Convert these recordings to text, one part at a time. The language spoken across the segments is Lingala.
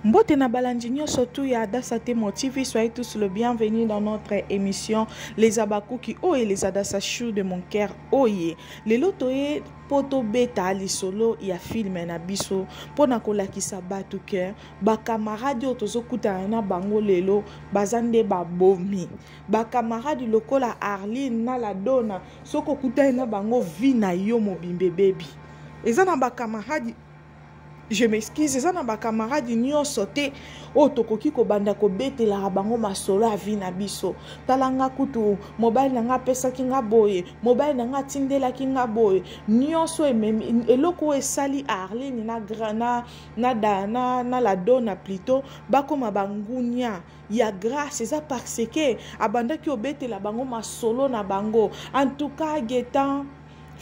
Mbote na balandi nyonso tu ya Adassa Temo TV, soyez tous le bienvenu dans notre émission Les Abakuki oye les Adassa Chou de mon cœur oye. Lelo toye mpo tobeta lisolo ya filme na biso mpo na kolakisa bato ke bakamaradi oyo tozokutana na bango lelo baza nde babomi bakamaradi lokola arline na ladona soki okutani na bango vi na yo mobimba ebebi eza na bakamaradi je m'excuse eza na bacamarade nyonso te oyo tokoki kobanda kobetelaka bango masolo ya vi na biso tala nga kutu mobali na nga apesaki nga boye mobali na nga atindelaki nga boye nyonso ememi eloko oyo esali arline na, na, na, na, na, na la dona plutot bakoma bangunia ya grâce eza parce ke abandaki obetela bango masolo na bango en tout cas getan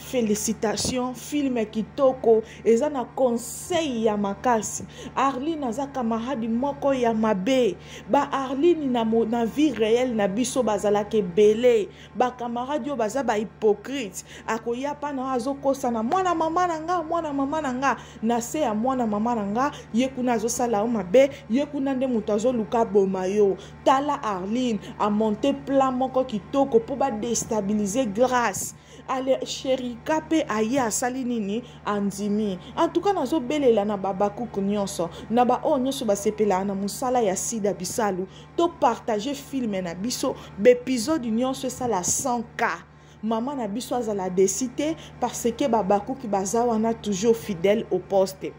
félicitation film kitoko eza na conseil ya makasi arline aza kamaradi moko ya mabe ba arline na, na vie réelle na biso bazalaka ebele bakamaradi oyo baza bahypocrite akoya mpana oyo azokosana mwana mama na nga mwana mama na nga na se ya mwana mama na nga ye kuna azosala yo mabe ye kuna nde moto azoluka boma yo tala arline amonte plan moko kitoko mpo badestabilize grace ale sherika mpe aye asali nini andimi antuka nazobelela na babakuku nyonso na baoyo nyonso basepelaka na mosala ya sida bisalu topartage filme na biso baepizode nyonso esala 100 cas Maman na biso azala desi te parce que babakuki baza wana toujours fidèle au poste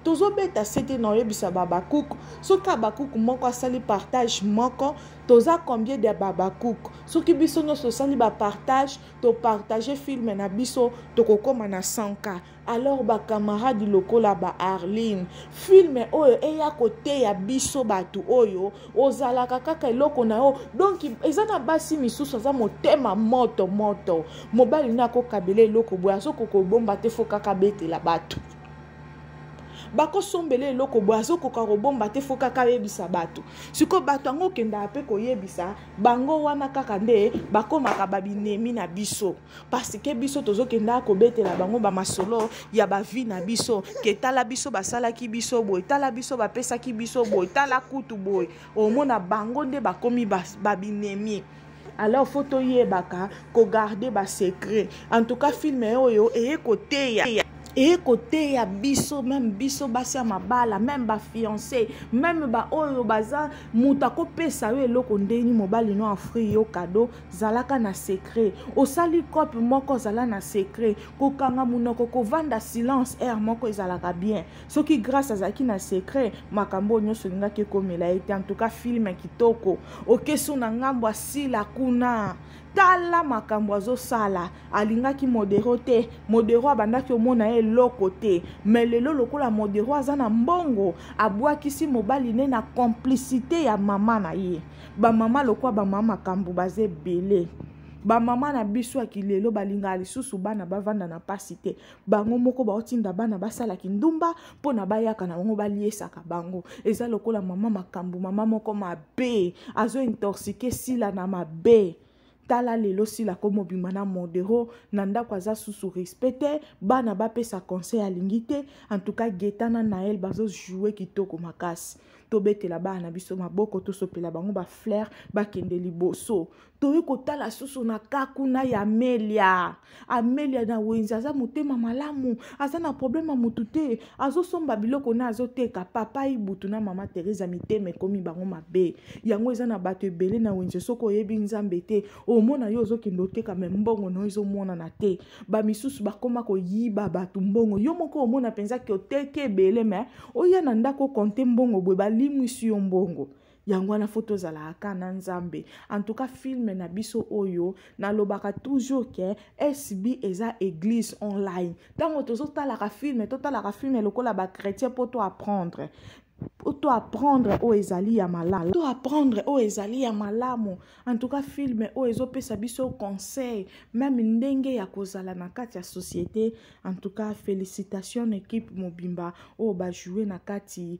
tozobeta sete na oyebisa babakuku soki abakuku moko asali partage moko toza combien de babakuku soki biso nyonso tosali bapartage topartage filme na biso tokokóma na 100 cas alors bacamarade lokola ba arline filme oyo eya koteya biso bato oyo ozalaka kaka eloko na yo donk eza na basi misusu aza motema moto moto mobali na akokabela eloko boye azokoka obomba te fo kaka abetela bato bakosombela eloko boye azokoka kobomba te fo kaka ayebisa bato sikoyo bato yango okendaka mpe koyebisa bango wana kaka nde bakomaka babinemi na biso parce que biso tozokenda kobetela bango bamasolo ya bavi na biso ke tala biso basalaki biso boye tala biso bapesaki biso boye tala kutu boye omona bango nde bakomi babinemi ba alors fo toyebaka kogarde basecret en tout cas film oyo eye koteya eye koteya biso meme biso basi ya mabala meme bafiance meme baoyo baza moto akopesa yo eloko ndeni mobali no afri yo kado zalaka na secret osali cope moko zala na secret kokanga monoko kovanda silence aire moko ezalaka bien soki grace azalaki na secret makambo oyo nyonso olingaki ekomela ye te antuka filme kitoko okesu na ngambo asila kuna tala makambo azosala alingaki modero te modero abandaki omona ye eloko te me lelo lokola modero aza na mbongo abwakisi mobali ne na complicité ya mama na ye bamama lokwa bamama makambo baza ebele bamama na biso ya kilelo balingaka lisusu bana bavanda na mpasi te bango moko baotinda bana basala kindumba mpo na bayaka na bango baliesaka bango eza lokola mama makambo mama moko mabe azointorsike sila na mabe tala lelo sila komobima na modero na ndako aza susu respect te bana bapesa conseil alingi te antuka geta na nael bazojoue kitoko makasi tobetela bana na biso maboko tosopela bango bafleur bakende liboso toye kotala susu na ka kuna ya melia amelia na wenzi aza motema malamu aza na probleme ya motu te azosomba biloko na azoteka papa ibutu na mama teresa mitema ekomi bango mabe yango eza na bato ebele na wenzi soki oyebi nzambe te omona yo ozokende oteka me mbongo na yo ezomonana te bamisusu bakoma koyiba bato mbongo yo moko omona mpenza ke oteki ebele me oya na ndako okonte mbongo boye balimwisi yo mbongo yango wana fo tozalaka kaka na nzambe en tout cas filme na biso oyo nalobaka toujours ke sb eza église online ntango tozotalaka filme totalaka filme lokola bachrétien mpo to apprendre to apprendre oyo ezali ya malamu to apprendre oyo ezali ya malamu en tout cas filme oyo ezopesa biso conseil meme ndenge ya kozala na kati ya société en tout cas félicitation na équipe mobimba oyo bajoue na kati